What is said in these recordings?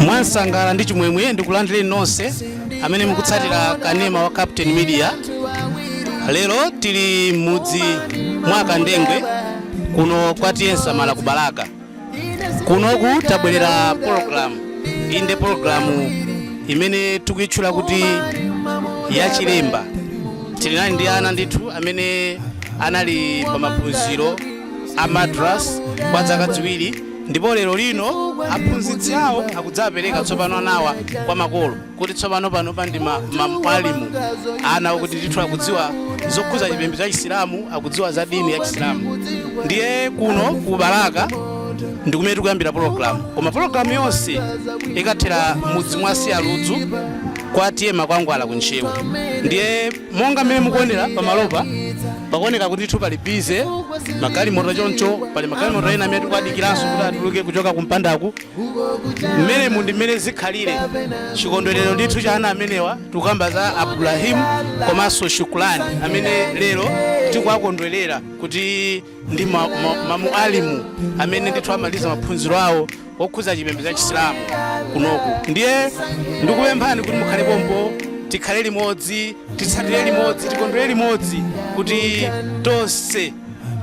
mwansangala ndi chimwemwe ndikulandireni nonse amene mukutsatira kanema wa captain media lero tili m'mudzi mwa kandengwe kuno kwa t/a nsamala ku balaka kunoku tabwelera pologalamu inde pologalamu imene tikuyitchula kuti yachilemba tilinali ndi ana ndithu amene anali pa maphunziro a madras kwa zaka ziwiri ndipo lero lino aphunzitsi awo akudzapereka tsopano anawa kwa makolo kuti tsopano panopa ndi ma- ma- mwalimu ana oti ndithu akudziwa zokhuza chipembedzo cha chisilamu akudziwa za dini ya chisilamu ndiye kuno ku balaka ndi kumene tikuyambira pologalamu koma pologalamu yonse ikathera mudzi mwa siyaludzu kwa t/a makwangwala ku ntcheu ndiye monga mmene mukuonera pamalopa pakuoneka kuti ndithu pali bize magalimoto choncho pali magalimoto ena amene tikuadikiranso kuti atuluke kuchoka kumpandaku mmenemu ndi mmene zikhalire chikondwerero ndithu cha ana amenewa tikukamba za abdulahimu komanso shukulani amene lero tikuwakondwerera kuti ndi ma- ma- mamualimu amene ndithu amaliza maphunziro awo okhudza chipembedzo cha chisilamu kunoku ndiye ndikupemphani kuti mukhale pompo tikhale limodzi titsatire limodzi tikondwere limodzi kuti tonse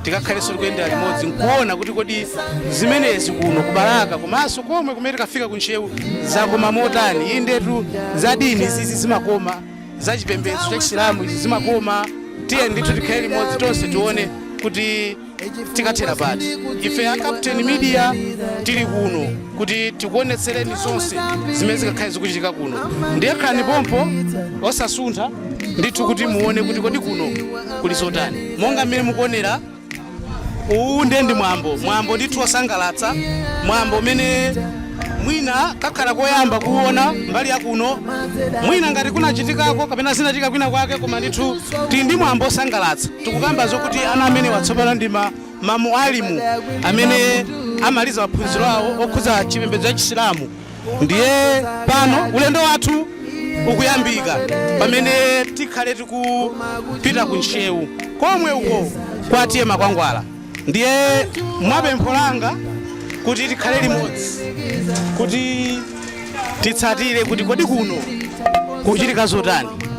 tikakhalenso tikuyendera limodzi nkuona kuti kodi zimenezi kuno ku balaka komanso komwe kumene tikafika ku ntcheu zakoma motani indetu za dini izi zimakoma za chipembedzo cha chisilamu izi zimakoma tiye ndithu tikhale limodzi tonse tione kuti tikathera pati ife a captain media tili kuno kuti tikuonetsereni zonse zimene zikakhale zikuchitika kuno ndiye khalani pompo osasuntha ndithu kuti muone kuti kodi kuno kuli zotani monga mmene mukuonera uwu nde ndi mwambo mwambo ndithu wosangalatsa mwambo umene mwina kakhala koyamba kuona mbali yakuno mwina ngati kunachitikako kapena zinachitika kwina kwake koma ndithu tili ndi mwambo wosangalatsa tikukamba zokuti ana amenewa tsopano ndi ma- mamualimu amene amaliza maphunziro awo okhudza chipembedzo cha chisilamu ndiye pano ulendo wathu ukuyambika pamene tikhale tikupita ku ntcheu komwe uko kwa t/a makwangwala ndiye mwa pempho langa kuti tikhale limodzi kuti titsatire kuti kodi kuno kukuchitika zotani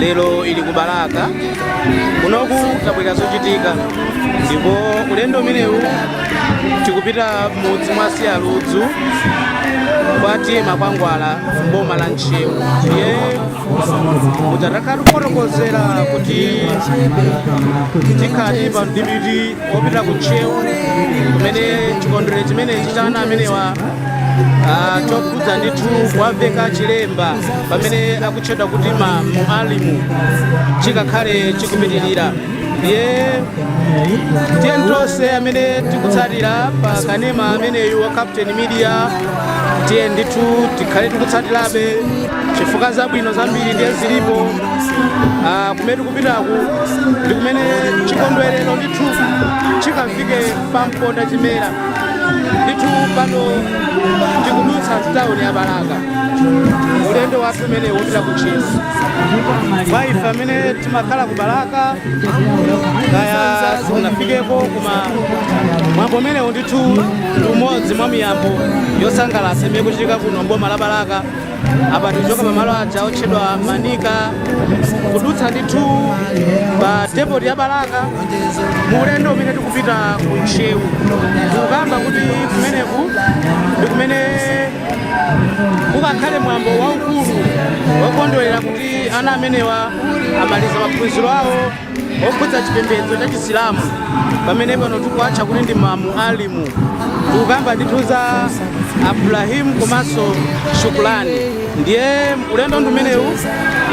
lero ili ku balaka kunoku tabwerera zochitika ndipo ulendo umenewu tikupita m'mudzi mwa Siyaludzu kwa T/A Makwangwala mboma la ntcheu ndiye takhala tikufotokozera kuti tikhala tili pa mdipiti wopita ku ntcheu kumene chikondwerero chimenechi cha ana amenewa ah, chokhudza ndithu kuwaveka chilemba pamene aku tchedwa kuti mamualimu chikakhale chikupitirira ndiye tiye tonse amene tikutsatira pa kanema ameneyu wa captain media tiye ndithu tikhale tikutsatirabe chifukwa zabwino zambiri ndiye zilipo Ah, kumene tikupitaku ndi kumene chikondwerero ndithu chikafike pa mponda chimera ndithu pano tikudutsa mtawuni ya balaka ulendo wathu umenewu opita ku Ntcheu kwa ife amene timakhala ku Balaka kaya siunafikeko koma mwambo umenewu ndithu ndi umodzi mwa miyambo yosangalatsa imene ikuchitika kuno mboma la Balaka apa tikuchoka pamalo aja otchedwa Manika kudutsa ndithu pa depoti ya Balaka mu ulendo umene tikupita ku Ntcheu tikukamba kuti kumeneku ndi kumene kukakhale mwambo waukulu wokondwerera kuti ana amenewa amaliza maphunziro awo okhudza chipembedzo cha chisilamu pamene pano tikuwatcha kuti ndi mamualimu tikukamba ndithu za Abdulrahim komanso Shukurani ndiye ulendo ndi umenewu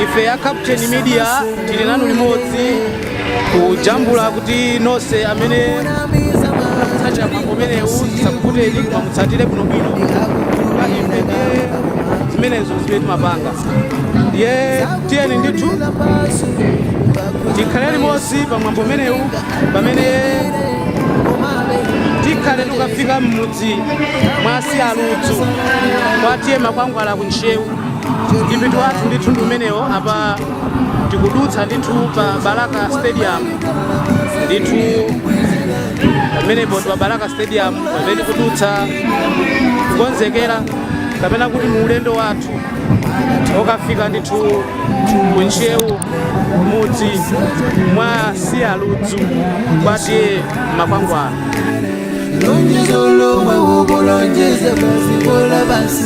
ife ya captain media tili nanu limodzi kujambula kuti nonse amene mukufuna kutsatira mwambo umenewu usakuphonyeni koma mutsatire bwinobwino chifukwa ife nde zimenezo zimene timapanga ndiye tiyeni ndithu tikhale limodzi pa mwambo umenewu pamene tikhale tikufika m'mudzi mwa Siyaludzu kwa T/A Makwangwala ku ntcheu mdipiti wathu ndithu ndi umenewo apa tikudutsa ndithu pa balaka stadium ndithu pamenepo ndi pa balaka stadium pamene tikudutsa kukonzekera kapena kuti mu ulendo wathu okafika ndithu ku ntcheu m'mudzi mwa Siyaludzu kwa T/A Makwangwala lonjezo lomwe ukulonjeza basi bola basi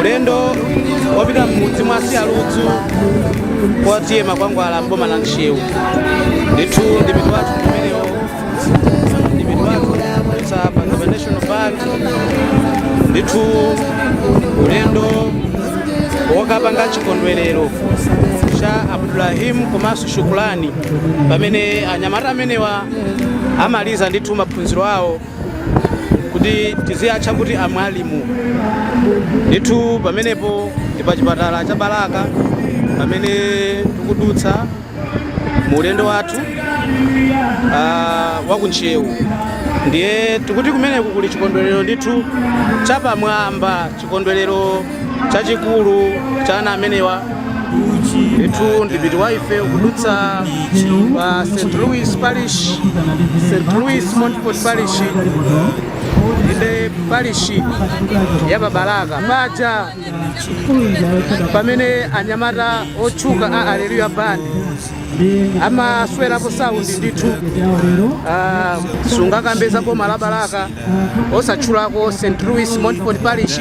ulendo wopita m'mudzi mwa siyaludzu kwa t/a makwangwala m'boma la ntcheu ndithu mdipiti wathu umenewo mdipiti wathu kudutsa pano pa national bank ndithu ulendo wokapanga chikondwerero cha abdulrahim komanso shukulani pamene anyamata amenewa amaliza ndithu maphunziro awo kuti tiziatcha kuti amwalimu ndithu pamenepo ndi pa chipatala cha balaka pamene tikudutsa mu ulendo wathu ah, wa ku ntcheu ndiye tikuti kumeneku kuli chikondwerero ndithu chapamwamba chikondwerero chachikulu cha ana amenewa ndithu mdipiti wa ife ukudutsa pa st louis parish st louis montfort parish inde parish ya pa balaka paja pamene anyamata otchuka a alleluya band amaswerapo saundi ndithu ah, sungakambe za boma la balaka osatchulako st louis montfort parish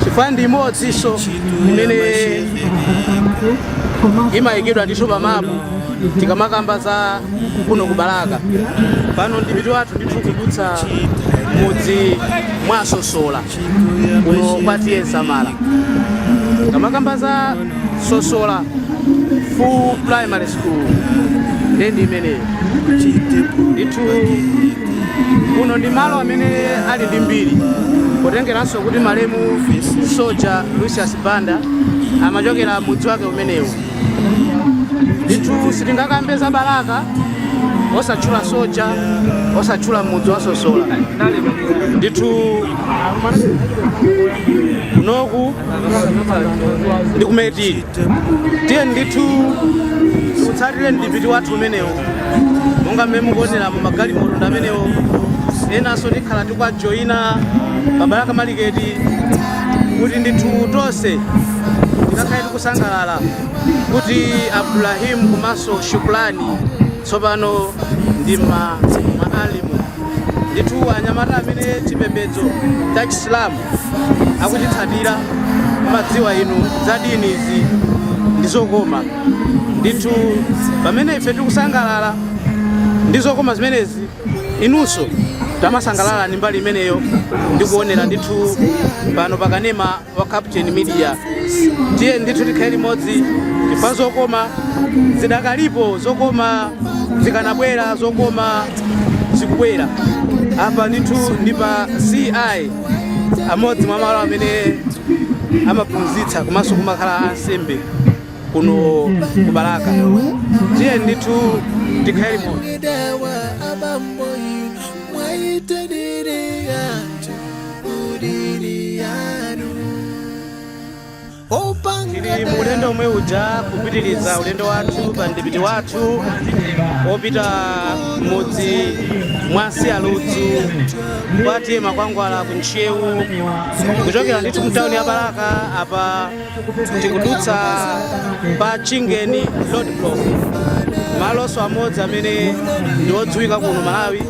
chifukwa ndi imodzinso imene imayikidwa ndithu pamapu tikamakamba za kuno ku balaka pano mdipiti wathu ndithu kudutsa m'mudzi mwa sosola kuno kwa t/a nsamala tikamakamba za sosola full primary school ndiye ndi imeneyo ndithu kuno ndi malo amene ali ndi mbiri potengeranso kuti malemu soja lucius banda amachokera m'mudzi wake umenewu ndithu sitingakambe za balaka osatchula soja osatchula mudzi wa sosola ndithu kunoku ndi ku meti tiyeni ndithu tiutsatire mdipiti wathu umenewo monga mmene mukuoneramu magalimoto ndi amenewo enanso tikhala tikuwajoyina pa balaka maliketi kuti ndithu tonse tikakhale tikusangalala kuti abdulrahim komanso shukulani Tsopano ndi mamwalimu ndithu anyamata amene chipembedzo cha Chisilamu akuchitsatira m'madziwa inu za deen izi ndi zokoma ndithu pamene ife tikusangalala ndi zokoma zimenezi inunso tamasangalalani mbali imeneyo ndi kuonera ndithu pano pa kanema wa captain media tiyeni ndithu tikhale limodzi chifukwa zokoma zidakalipo zokoma zikanabwera zokoma zikubwera apa ndithu ndi pa ci amodzi mwa malo amene amaphunzitsa komanso kumakhala ansembe kuno ku balaka tiyeni ndithu tikhale limodzi Dawa abambo inu mwaitaniria tili mu ulendo omwe uja kupitiriza ulendo wathu pa mdipiti wathu wopita mudzi mwa siyaludzu kwa t a makwangwala ku ntcheu kuchokera ndithu mtawuni ya balaka apa tikudutsa pa chingeni road block malonso amodzi amene ndi odziwika kuno malawi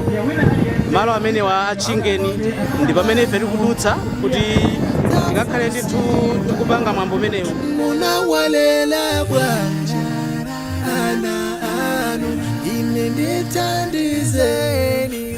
malo amenewa a chingeni ndi pamene ife tikudutsa kuti tikakhale ndithu ndikupanga mwambo umenewu munawalela bwanji ana anu ine ndithandizeni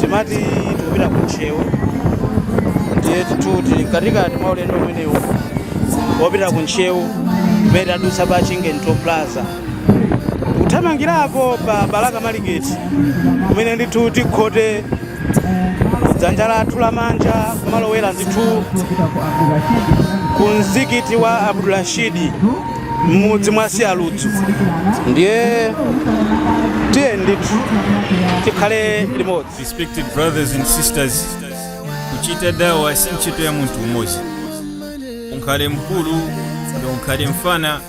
timati tikupita ku ntcheu ndiye ndithu tili mkatikati mwa ulendo umenewu wopita ku ntcheu pamene tadutsa pa chingeni toll plaza tikuthamangira pa balaka maliketi kumene ndithu tikhote ku dzanja lathu lamanja kumalowera ndithu ku mzikiti wa abdulrashidi m'mudzi mwa siyaludzu ndiye tiyeni ndithu tikhale limodzi respected brothers and sisters kuchita dawa si ntchito ya munthu umodzi ukhale mkulu ndi ukhale mfana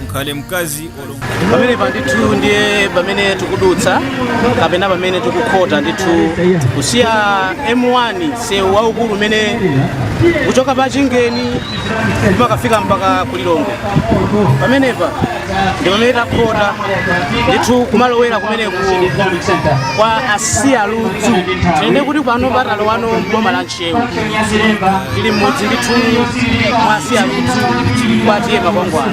ukhale mkazi olo pamenepa ndithu ndiye pamene tikudutsa kapena pamene tikukhota ndithu kusiya m1 msewu waukulu umene kuchoka pa chingeni umakafika mpaka ku lilongwe pamenepa ndi pamene takhota ndithu kumalowera kumeneku kwa a siyaludzu tinene kuti pano pano talowano boma la ntcheu tili mmudzi ndithu mwa a siyaludzu kwa t a makwangwala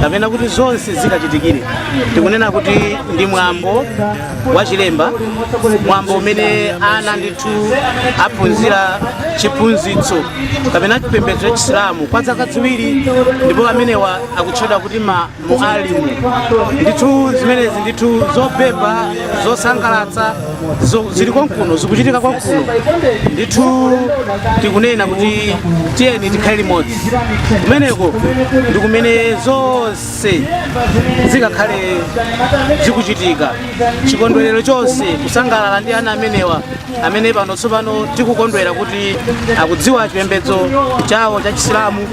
kapena kuti zonse zikachitikire tikunena kuti ndi mwambo wa chilemba mwambo umene ana ndithu aphunzira chiphunzitso kapena chipembedzo cha chisilamu kwa zaka ziwiri ndipo amenewa akutchedwa kuti ma mwalimu ndithu zimenezi ndithu zobeba zosangalatsa Zili konkuno zikuchitika konkuno ndithu tikunena kuti tiyeni tikhale limodzi kumeneko ndi kumene zonse zikakhale zikuchitika chikondwerero chonse kusangalala ndi ana amenewa amene pano tsopano tikukondwera kuti akudziwa chipembedzo chawo cha chisilamu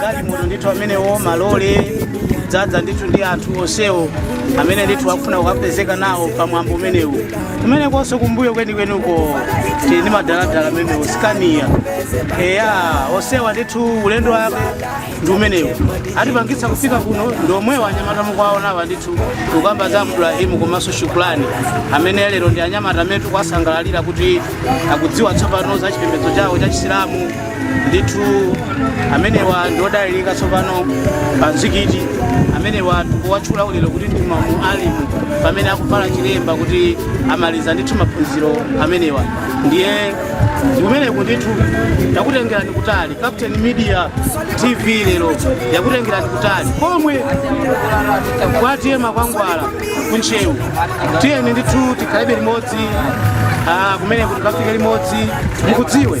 galimoto ndithu amenewo malole dzadza ndithu ndi anthu onsewo amene ndithu akufuna kukapezeka nawo pa mwambo umenewu kumenekonso kumbuyo kwenikweniko tili ndi madaladala amenewo sikaniya eya onsewa ndithu ulendo wake ndi umenewu atipangitsa kufika kuno ndi omwewo anyamata mukuwaonawa ndithu tikukamba za Ibrahimu komanso shukulani amene lero ndi anyamata amene tikuwasangalalira kuti akudziwa tsopano za chipembedzo chawo cha chisilamu ndithu amenewa ndi odalirika tsopano pa mzikiti amenewa tikuwatchula ulero kuti ndi mamualimu pamene akuvala chilemba kuti amaliza ndithu maphunziro amenewa ndiye kumeneku ndithu yakutengerani kutali captain media tv lero yakutengerani kutali pomwe kwa T/A Makwangwala kuntcheu tiyeni ndithu tikhalebe limodzi ah, kumeneku tikafike limodzi mukudziwe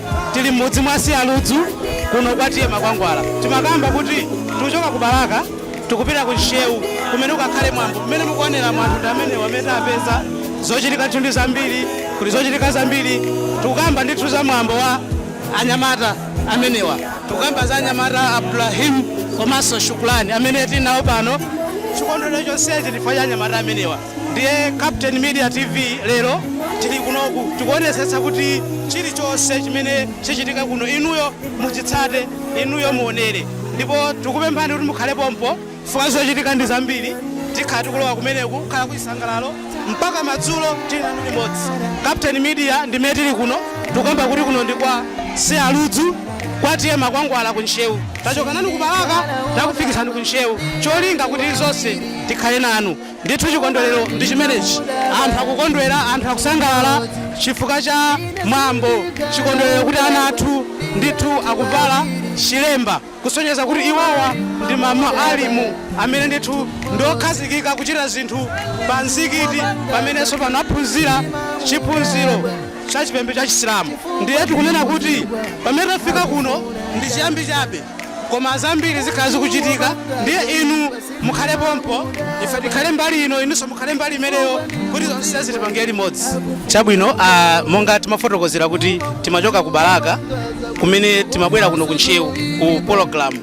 tili m'mudzi mwa Sialudzu kuno kwa T/A Makwangwala timakamba kuti tikuchoka ku balaka tikupita ku ntcheu kumene kukakhale mwambo kumene mukuonera anthu ndi amenewa amene tapeza zochitika ndithu ndi zambiri kuti zochitika zambiri tikukamba ndithu za mwambo wa anyamata amenewa tikukamba za anyamata Ibrahimu komanso shukulani amene tili nawo pano chikondwerero chonsechi chifukwa cha anyamata amenewa Ndiye Captain Media TV lero tili kunoku tikuonetsetsa kuti chilichonse chimene chichitika kuno inuyo muchitsate, inuyo muonere ndipo tikupemphani kuti mukhale pompo chifukwa zochitika ndi zambiri. Tikhala tikulowa kumeneku kukhala kuchisangalalo mpaka madzulo tili nanu limodzi. Captain Media ndi mmene tili kuno, tikukamba kuti kuno ndi kwa Sialudzu, kwa T/A Makwangwala ku Ntcheu. Tachoka nanu ku Balaka takufikitsani ku Ntcheu, cholinga kuti zonse tikhale nanu. Ndithu chikondwerero ndi chimenechi, anthu akukondwera, anthu akusangalala chifukwa cha mwambo, chikondwerero kuti ana athu ndithu akuvala chilemba kusonyeza kuti iwowa ndi mamualimu amene ndithu ndiokhazikika kuchita zinthu pa mzikiti pamenenso pano aphunzira chiphunziro cha chipembedzo cha Chisilamu. Ndiye tikunena kuti pamene tafika kuno ndi chiyambi chabe. koma zambiri zikhala zikuchitika ndiye inu mukhale pompo ife tikhale mbali ino inunso mukhale mbali imeneyo kuti zonse tizipanga limodzi chabwino ah, monga timafotokozera kuti timachoka ku balaka kumene timabwera kuno ku ntcheu ku pologalamu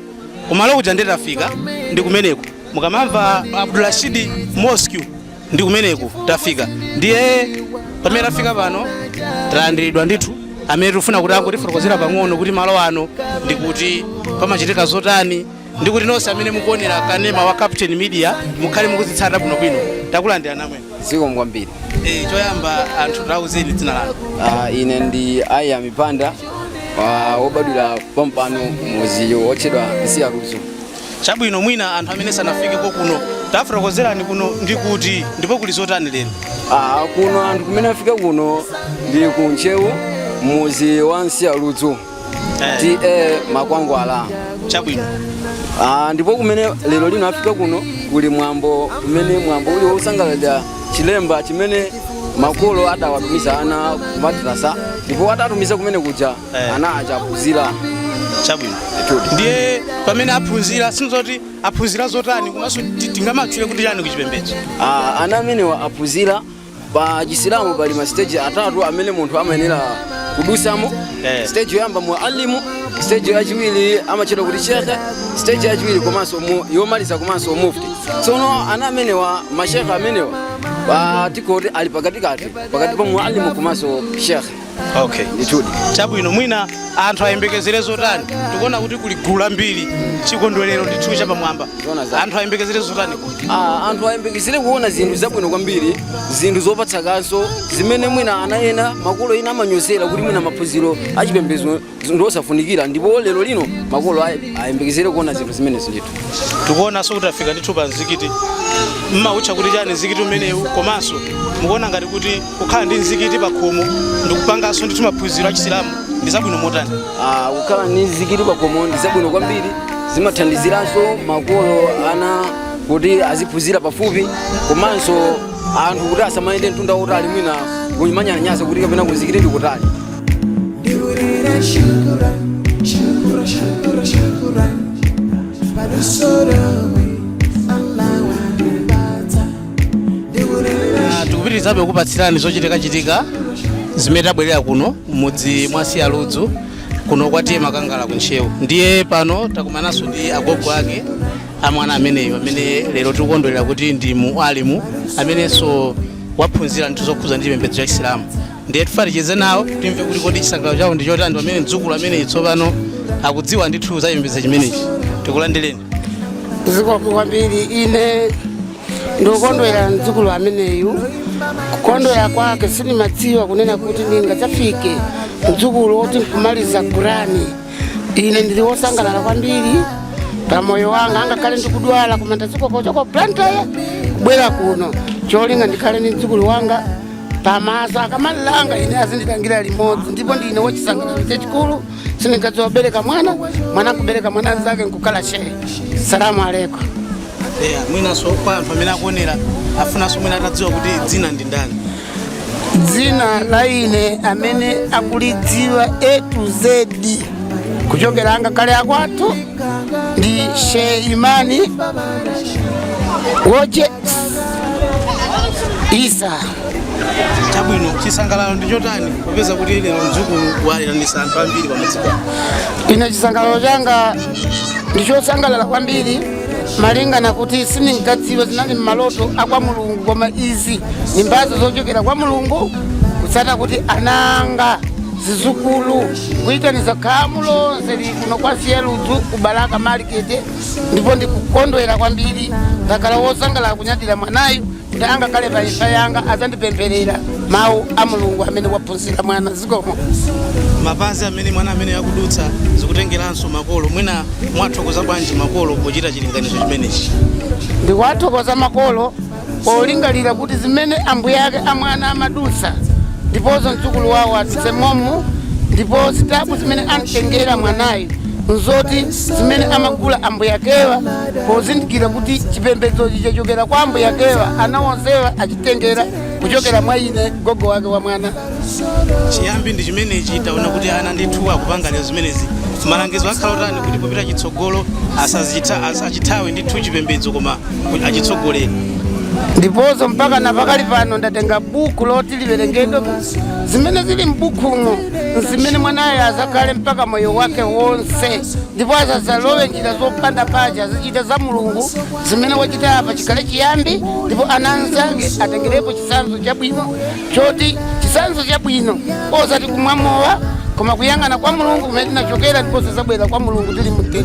kumalo kuja ndiye tafika ndi kumeneko mukamamva abdurashidi mosque ndi kumeneku tafika ndiye pamene tafika pano talandiridwa ndi munthu amene tikufuna kuti angotifotokozera pang'ono kuti malo ano ndi kuti pamachitika zotani ndi kuti nonse amene mukuonera kanema wa captain media mukhale mukuzitsata bwinobwino takulandirani amwene zikomo kwambiri e, choyamba anthu tauzeni dzina lanu Ah, ine ndi aya mipanda ah, wobadwira pompano muzi wotchedwa Nsiyaludzu Chabwino, mwina anthu amene sanafikeko kuno tafotokozerani kuno ndi kuti ndipo kuli zotani lero? Ah, kuno anthu kumene afika kuno ndi ku Ntcheu muzi wa Nsiyaludzu Eh, TA Makwangwala. chabwino. Ah, ndipo kumene lero lino afika kuno kuli mwambo umene mwambo uli wosangalalira chilemba chimene makolo adawatumiza ana kumadrasa ndipo atatumiza kumene kuja ana aja aphunzira chabwino ndiye pamene aphunzira ndi zoti aphunzira zotani komanso ti- tingamatchule kuti chani kuchipembedzo Ah, ana amenewa aphunzira pa chisilamu pali masiteji atatu amene munthu amayenera kudusamo Eh. siteji yoyamba mualimu siteji yachiwiri amatchedwa kuti shekhe siteji yachiwiri komanso mu- yomaliza komanso mufti tsono ana amenewa mashekhe amenewa ah, tingoti ali pakatikati pakati pa mualimu komanso shekhe okay ndithudi chabwino mwina anthu ayembekezere zotani tikuona kuti kuli gulu lambiri chikondwerero ndithu chapamwamba anthu ayembekezere zotani Ah, anthu ayembekezere kuona zinthu zabwino kwambiri zinthu zopatsa kaso zimene mwina ana ena makolo ena amanyozera kuti mwina maphunziro achipembedzo ndi osafunikira ndipo lero lino makolo ay- ayembekezere kuona zinthu zimenezi ndithu tikuonanso kuti tafika ndithu pa mzikiti mmawutcha kuti chani mzikiti umenewu komanso mukuona ngati kuti kukhala ndi mzikiti pa khomo ndikupanganso ndithu maphunziro a chisilamu ndi zabwino motani Ah, kukhala ndi mzikiti pa khomo ndi zabwino kwambiri zimathandiziranso makolo ana kuti aziphunzira pafupi komanso anthu kuti asamayende mtunda wotali mwina kumanyalanyaza kuti kapena kumzikiti ndi kutali ndiurira shukura shukura shukura shukura palusorowe allawanibata ndiurira Ah, tikupitirizabe kupatsirani zochitikachitika zimene tabwerera kuno mudzi mwa Nsiyaludzu kuno kwa TA Makwangwala ku ntcheu ndiye pano takumananso ndi agogo ake amwana ameneyo amene lero tikukondwerera kuti ndi mualimu amenenso waphunzira ndithu zokhuza ndi chipembedzo cha chisilamu ndiye tifuna ticheze nawo timve kuti kodi chisangalalo chawo ndi chotani pamene mdzukulu ameneyi tsopano akudziwa ndithu za chipembedzo chimenechi tikulandireni zikomo kwambiri ine ndikukondwera mdzukulu ameneyu kukondwera kwake sindimadziwa kunena kuti ndingadzafike mdzukulu woti nkumaliza kurani ine ndili wosangalala kwambiri pa moyo wanga angakhale ndikudwala koma ndazikoka kuchoka ku Blantyre kubwera kuno cholinga ndikhale ndi mdzukulu wanga pamaso akamalangidwa ine azindilangira limodzi ndipo ndine wachisangalalo chachikulu sindinkadziwa kubereka mwana mwana kubereka mwana mnzake nkukhala shehe salamu alaikum yeah, mwinanso kwa anthu amene akuonera afunanso mwina atadziwa kuti dzina ndi ndani dzina la ine amene akulidziwa a to z kuchokera angakhale akwathu ndi shehe imani woje isa chabwino chisangalalo ndi chotani popeza kuti lero mdzukulu wawiranisa anthu ambiri pamodzi pano ine chisangalalo changa ndi chosangalala kwambiri malingana kuti sindinkadziwa zinali mmaloto akwa mulungu koma izi ndi mbazo zochokera kwa mulungu kuzata kuti ana anga zizukulu kuitaniza khamu lonseli kuno kwa siyaludzu ku balaka market ndipo ndikukondwera kwambiri ndakhala wosangalala kunyadira mwanayu kuti angakhale pa imfa yanga adzandipempherera mawu a mulungu amene waphunzira mwana zikomo mapazi amene mwana ameneyu akudutsa zikutengeranso makolo mwina mwathokoza bwanji makolo pochita chilinganizo chimenechi ndikuwathokoza makolo polingalira kuti zimene ambuye ake a mwana amadutsa ndiponso mdzukulu wawo adutse momo ndipo zitabu zimene amtengera mwanayu nzoti zimene amagula ambuye akewa pozindikira kuti chipembedzochi chachokera kwa ambuye akewa ana onsewa achitengera kuchokera mwa ine gogo wake wa mwana chiyambi ndi chimenechi taona kuti ana ndithu akupangira zimenezi malangizo akhala otani kuti popita chitsogolo asachitha asachithawe ndithu chipembedzo koma ku- achitsogolere ndiponso mpaka na pakali pano ndatenga buku loti liwerengedwe zimene zili m'bukumo nzimene mwanayo azakhale mpaka moyo wake wonse ndipo asazalowe njira zopanda pake azachita za mulungu zimene wachita apa chikhale chiyambi ndipo ana anzake atengerepo chisanzo chabwino choti chisanzo chabwino osati kumwa mowa koma kuyang'ana kwa mulungu kumene tinachokera ndiponso zabwera kwa mulungu tili mtendere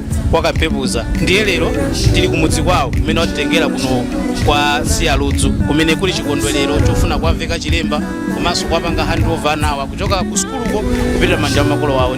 kwa kampepuza ndiye lero tili kumudzi kwawo kumene watitengera kuno kwa siyaludzu kumene kuli chikondwerero chofuna kuwaveka chilemba komanso kuwapanga handover anawa kuchoka ku sukuluko kupita m'manja mwa makolo awo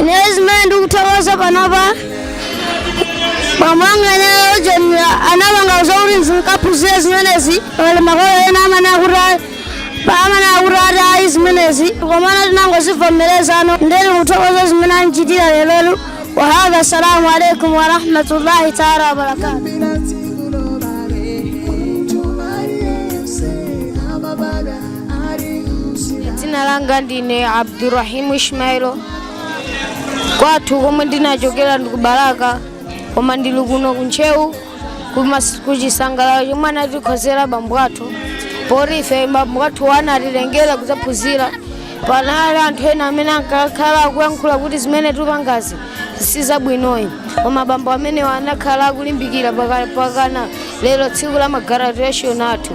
ineyo zimene ndikuthokoza panopa bambo anga ineyo jeni anapanga zokuti ndikaphunzire zimenezi pali makolo ena amene akuti ayi- pa amene akuti ati ayi zimenezi komana tinangozivomereza ndiye ndili kuthokoza zimene andichitira lerotu wahadha assalamu alaikum warahmatullahi taala wabarakatu Bila dzina langa ndine abdurahimu ishmailo kwathu komwe ndinachokera ndi kubalaka koma ndili kuno kuntcheu kumas- kuchisangalalo chomwe anatikonzera bambo athu poti ife bambo athu anatitengera kudzaphunzira panali anthu ena amene ankakhala akuyankhula kuti zimene tipangazi si zabwinoyi koma bambo amenewa anakhala akulimbikira paka- pakana lero tsiku la magraduation athu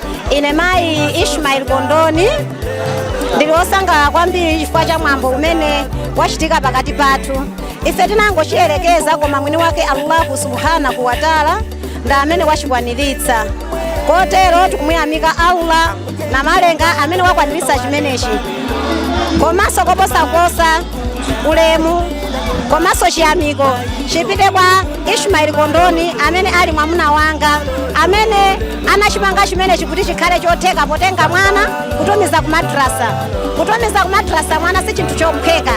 ine mayi ishmael kondoni ndili wosangalala kwambiri chifukwa cha mwambo umene wachitika pakati pathu ife tinangochiyerekeza koma mwini wake allahu subhanahu wataala ndi amene wachikwaniritsa kotero tikumuyamika allah namalenga amene wakwaniritsa chimenechi komanso koposaposa ulemu komanso chiyamiko chipite kwa ishmaeli kondoni amene ali mwamuna wanga amene anachipanga chimenechi kuti chikhale chotheka potenga mwana kutumiza ku madrasa kutumiza ku madrasa mwana si chinthu chophweka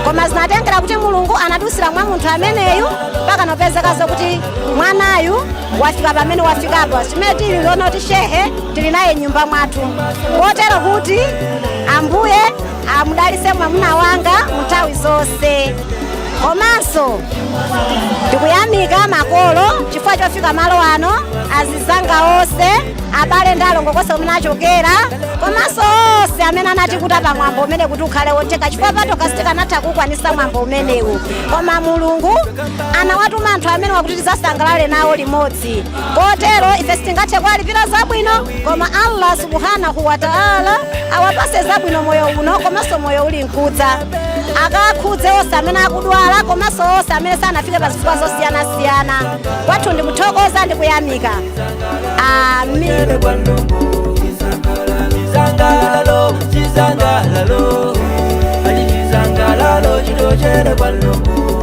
koma zinatengera kuti mulungu anadusira mwa munthu ameneyu mpaka nopezekaso kuti mwanayu wafika pamene wafikapo chimene tili kuona kuti shehe tili naye nyumba mwathu kotero kuti ambuye amudalise mwamuna wanga munthawi zonse komanso ndikuyamika makolo chifukwa chofika malo ano azizanga onse abale ndi alongo konse kumene achokera komanso onse amene anatikuta pa mwambo umene kuti ukhale wotheka chifukwa patokha sitikanatha kukwanisa mwambo umenewu koma mulungu anawatuma anthu amenewa kuti tizasangalale nawo limodzi limodzi kotero ife sitingathe kuwalipira zabwino koma allah subhanahu wa taala awapase zabwino moyo uno komanso moyo uli nkudza akakhudze onse amene akudwala komanso onse amene sanafike pa zifukwa zosiyanasiyana kwathu ndikuthokoza ndi kuyamika amin Chisangalalo, chisangalalo, ali chisangalalo, chochokera kwa Mulungu.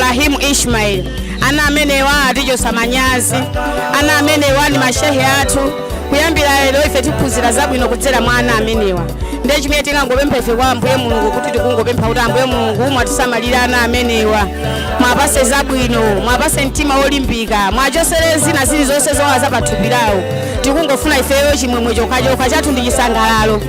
Rahim Ishmael. Ana amenewa atichotsa manyazi, ana amenewa ndi mashehe athu. Kuyambira lero ife tiphunzira zabwino kudzera mwa ana amenewa. Ndiye chimene tingangopempha ife kwa Ambuye Mulungu kuti tikungopempha kuti Ambuye Mulungu mwatisamalire ana amenewa, mwapase zabwino, mwapase mtima wolimbika, mwachosere zina zilizonse zowawa za pathupi lawo. Tikungofuna ifeyo chimwemwe chokhachokha chathu ndi chisangalalo.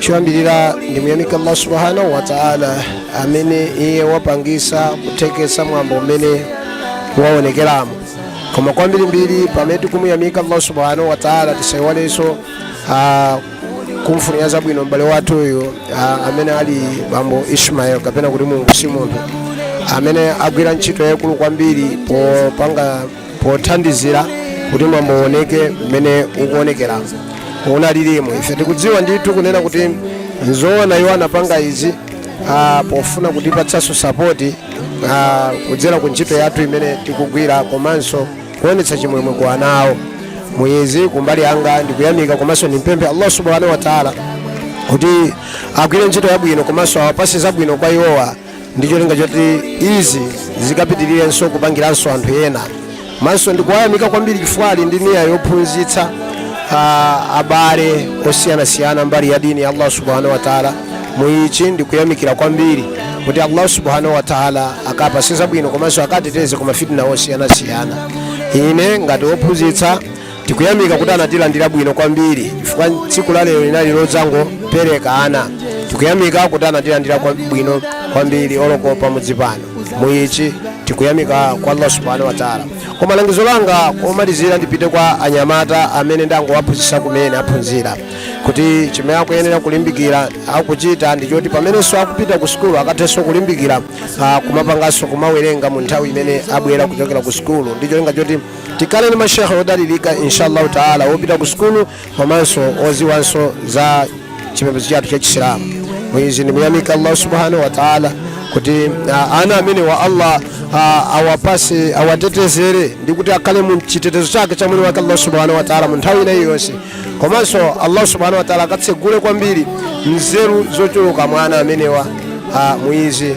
choyambirira ndimuyamika allah subhanahu wataala amene iye wapangisa kuthekesa mwambo umene waonekeramo koma kwambirimbiri pamene tikumuyamika allah subhanahu wataala tisaiwalenso ah, kumfunira zabwino m'bale wathu uyu ah, amene ali bambo ismael kapena kuti mlungusi muzo amene agwira ntchito yayikulu kwambiri popanga pothandizira kuti mwambo uoneke mmene ukuonekera unalilimo ife tikudziwa ndithu kunena kuti nzoona iwo anapanga izi ah, pofuna kutipatsanso sapoti ah, kudzera ku ntchito yathu imene tikugwira komanso kuonetsa chimwemwe kwa ana awo muizi kumbali yanga ndikuyamika komanso ndimpemphe allah subhanahu wa taala kuti agwire ntchito yabwino komanso awapatse zabwino kwa iwowa ndi cholinga choti izi zikapitirirenso kupangiranso anthu ena komanso ndikuwayamika kwambiri chifukwa ali ndi niya yophunzitsa ah, abale osiyanasiyana mbali ya dini ya allah subhanahu wataala muichi ndikuyamikira kwambiri kuti allah subhanahu wataala akapatse zabwino komanso akateteze ku mafitna osiyanasiyana ine ngati wophunzitsa tikuyamika kuti anatilandira bwino kwambiri chifukwa tsiku la lero linali lodzangopereka ana tikuyamika kuti anatilandira kwa- bwino kwambiri oloko pamudzi pano muichi tikuyamika kwa allah subhanahu wataala koma langizo langa lomalizira ndipite kwa anyamata amene ndangowaphunzitsa kumene aphunzira kuti chimene akuyenera kulimbikira akuchita ndi choti pamenenso akupita ku sukulu akathenso kulimbikira ah, kumapanganso kumawerenga mu nthawi imene abwera kuchokera ku sukulu ndi cholinga choti tikhale ndi mashekhe odalirika inshallahu taala wopita ku sukulu komanso odziwanso za chipembedzo chathu cha chisilamu muizi ndimuyamika allah subhanahu wa taala kuti ah, ana amenewa allah ah, awapatse awatetezere ndi kuti akhale mu chitetezo chake cha mwini wake allah subhanahu wa taala mu nthawi ina iliyonse komanso allah subhanahu wa taala akatsegule kwambiri nzeru zochuluka mwa ana amenewa ah, muizi